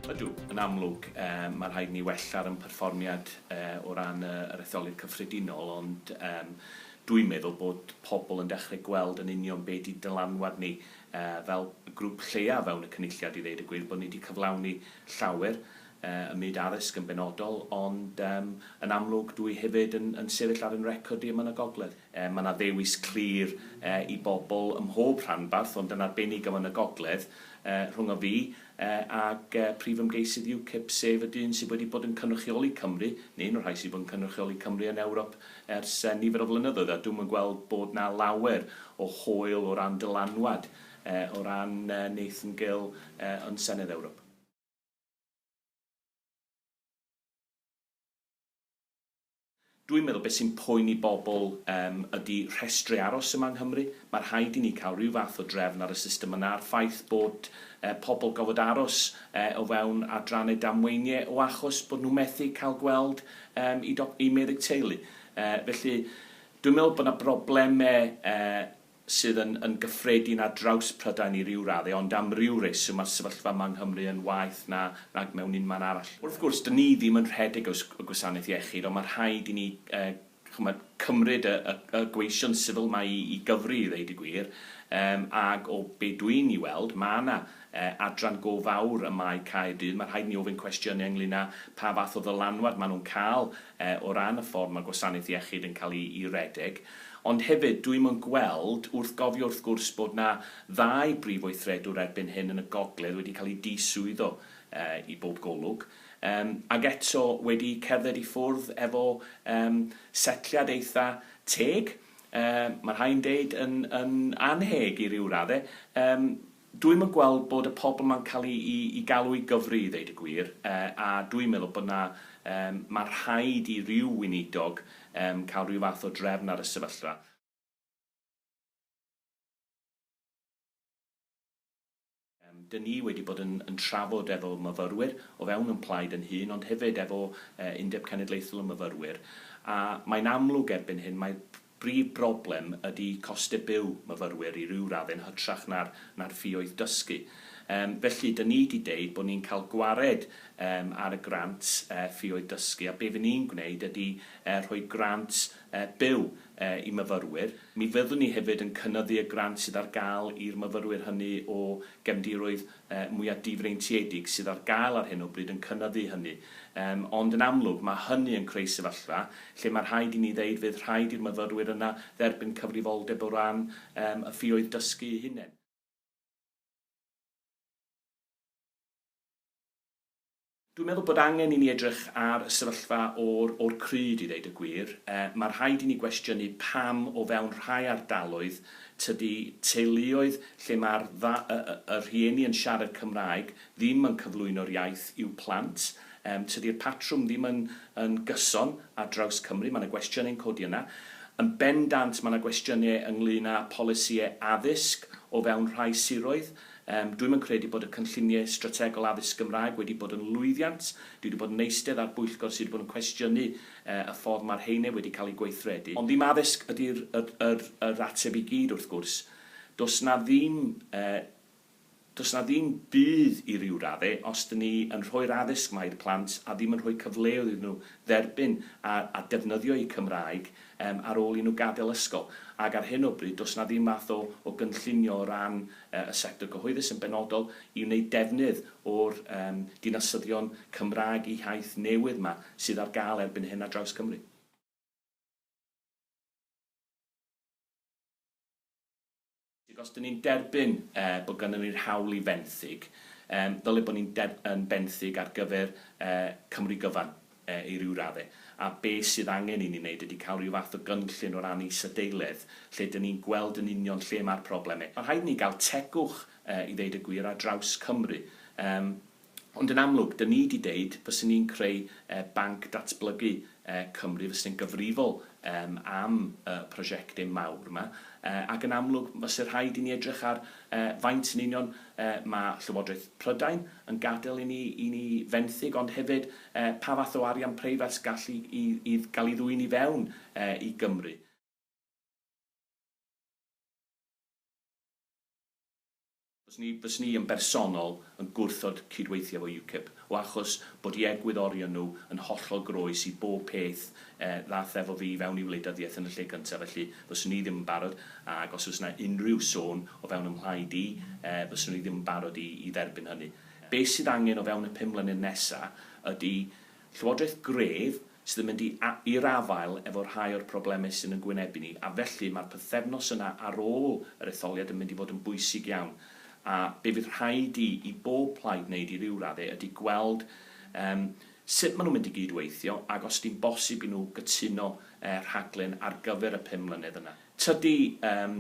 Ydw, yn amlwg, um, mae rhaid ni wella'r yn perfformiad uh, o ran uh, yr etholyd cyffredinol, ond um, dwi'n meddwl bod pobl yn dechrau gweld yn union be di dylanwad ni uh, fel grŵp lleia fewn y cynulliad i ddeud y gwir, bod ni wedi cyflawni llawer, ym myd addysg yn benodol, ond yn amlwg dw i hefyd yn sefyll ar yn record i yma yn y gogledd. Mae yna ddewis clir i bobl ym mhob rhanbarth, ond yn arbennig yma yn y gogledd, rhwng o fi ac prif ymgeisydd UKIP, sef y dyn sydd wedi bod yn cynrychioli Cymru, neu un o'r rhai sydd wedi bod yn cynrychioli Cymru yn Ewrop ers nifer o flynyddoedd, a dwi'm yn gweld bod yna lawer o hwyl o ran dylanwad o ran Nathan Gill yn Senedd Ewrop. Dwi'n meddwl beth sy'n poeni bobl yym ydi rhestri aros yma yng Nghymru. Mae rhaid i ni cael rhyw fath o drefn ar y system yna a'r ffaith bod yy pobl gofod aros yy o fewn adrannau damweinie o achos bod nhw methu cael gweld yym i doc- i meddyg teulu. Yy felly dwi'n meddwl bod 'na brobleme yy sydd yn yn gyffredin ar draws Prydain i ryw raddau, ond am ryw reswm mae'r sefyllfa yma yng Nghymru yn waeth na nag mewn unman arall. Wrth gwrs, dyn ni ddim yn rhedeg y y gwasanaeth iechyd, ond mae rhaid i ni yy ch'mod cymryd y y y gweision sifil mae i i gyfri i ddeud y gwir, yym ag o be dwi'n i weld mae yna yy adran go fawr ym Mae Caerdydd, mae rhaid i ni ofyn cwestiynau ynglyn â pha fath o ddylanwad maen nhw'n cael o ran y ffordd mae gwasanaeth iechyd yn cael ei redeg, ond hefyd dwi'm yn gweld, wrth gofio wrth gwrs bod 'na ddau brif weithredwr erbyn hyn yn y gogledd wedi cael eu diswyddo i bob golwg, yym, ac eto wedi cerdded i ffwrdd efo yym setliad eitha' teg, yy, ma' rhai'n deud yn yn annheg i ryw radde, yym, Dwi'm yn gweld bod y pobl 'ma'n cael i i i galw i gyfri i ddeud y gwir, yy a dwi'n meddwl bod 'na yym ma' rhaid i ryw weinidog yym cael ryw fath o drefn ar y sefyllfa. Yym 'dyn ni wedi bod yn yn trafod efo myfyrwyr o fewn yn plaid yn hŷn ond hefyd efo yy Undeb Cenedlaethol y Myfyrwyr a mae'n amlwg erbyn hyn mae Brif broblem ydy costau byw myfyrwyr i ryw radd yn hytrach na'r na'r ffioedd dysgu. Yym felly 'dyn ni 'di deud bod ni'n cael gwared yym ar y grant yy ffioedd dysgu a be' fy' ni'n gwneud ydy yy rhoi grant yy byw yy i myfyrwyr. Mi fyddwn ni hefyd yn cynyddu y grant sydd ar gael i'r myfyrwyr hynny o gefndiroedd mwya' difreintiedig sydd ar gael ar hyn o bryd yn cynyddu hynny. Yym, ond yn amlwg, mae hynny yn creu sefyllfa lle mae rhaid i ni ddeud fydd rhaid i'r myfyrwyr yna dderbyn cyfrifoldeb o ran yym y ffioedd dysgu eu hunain. Dwi'n meddwl bod angen i ni edrych ar y sefyllfa o'r o'r crud i ddeud y gwir. Mae rhaid i ni gwestiynu pam o fewn rhai ardaloedd tydi teuluoedd lle mae'r dda- y y y rhieni yn siarad Cymraeg ddim yn cyflwyno'r iaith i'w plant. Yym tydi'r patrwm ddim yn yn gyson ar draws Cymru, mae 'na gwestiynau'n codi yna. Yn bendant mae 'na gwestiynau ynglŷn â polisïau addysg o fewn rhai siroedd. Yym, dwi'm yn credu bod y cynlluniau strategol addysg Gymraeg wedi bod yn lwyddiant. Dwi 'di bod yn eistedd ar bwyllgor sy' 'di bod yn cwestiynu yy y ffordd ma'r rheine wedi cael eu gweithredu. Ond ddim addysg ydi'r yr yr yr ateb i gyd, wrth gwrs. Does 'na ddim yy does 'na ddim budd i ryw radde os 'dyn ni yn rhoi'r addysg 'ma i'r plant a ddim yn rhoi cyfleoedd iddyn nhw dderbyn a a defnyddio eu Cymraeg yym ar ôl i nhw gadael ysgol, ac ar hyn o bryd does yna ddim math o o gynllunio o ran yy y sector gyhoeddus yn benodol i wneud defnydd o'r yym dinasyddion Cymraeg Iaith newydd 'ma sydd ar gael erbyn hyn ar draws Cymru. Ac os 'dyn ni'n derbyn bod ganddo ni'r hawl i fenthyg, ddyle bod ni'n yn benthyg ar gyfer Cymru gyfan i ryw raddau. A be sydd angen i ni wneud ydy cael ryw fath o gynllun o ran isadeiledd lle 'dyn ni'n gweld yn union lle mae'r problemau. Mae'n rhaid i ni gael tegwch, i ddeud y gwir, ar draws Cymru. Ond yn amlwg, dyn ni 'di deud, fyswn ni'n creu banc datblygu Cymru, fyswn ni'n gyfrifol am y prosiectau mawr 'ma, ac yn amlwg, fyse rhaid i ni edrych ar faint yn union ma' Llywodraeth Prydain yn gadael i ni i ni fenthyg, ond hefyd pa fath o arian preifat gall i i i gael ei ddwyn i fewn i Gymru. Fyswn i yn bersonol yn gwrthod cydweithio efo UKIP, o achos bod i egwyddorion nhw yn hollol groes i bob peth ddaeth efo fi i fewn i wleidyddiaeth yn y lle cyntaf, felly fyswn i ddim yn barod, ac os oes yna unrhyw sôn o fewn ym mhlaid i, fyswn i ddim yn barod i dderbyn hynny. Be sydd angen o fewn y pum mlynedd nesaf ydy Llywodraeth gref sydd yn mynd i'r afael efo rhai o'r problemau sy'n yn gwynebu ni, a felly mae'r pythefnos yna ar ôl yr etholiad yn mynd i fod yn bwysig iawn, a be fydd rhaid i i bob plaid wneud i ryw raddau ydy gweld yym sut maen nhw'n mynd i gyd-weithio ac os ydy'n bosib i nhw gytuno yy rhaglen ar gyfer y pum mlynedd yna. Tydi yym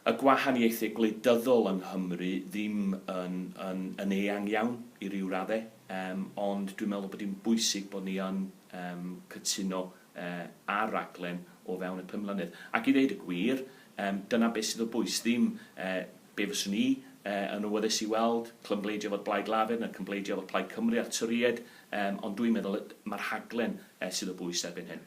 y gwahaniaethau gwleidyddol yng Nghymru ddim yn yn yn eang iawn i ryw raddau. Yym, ond dwi'n meddwl bod hi'n bwysig bod ni yn yym cytuno yy ar raglen o fewn y pum mlynedd. Ac i ddeud y gwir, yym dyna beth sydd o bwys, ddim yy be fyswn i yy yn awyddus i weld, clymbleidio efo'r Blaid Lafur na cymbleidio efo Plaid Cymru a'r Torïaid, yym ond dwi'n meddwl y- mae'r rhaglen yy sydd o bwys erbyn hyn.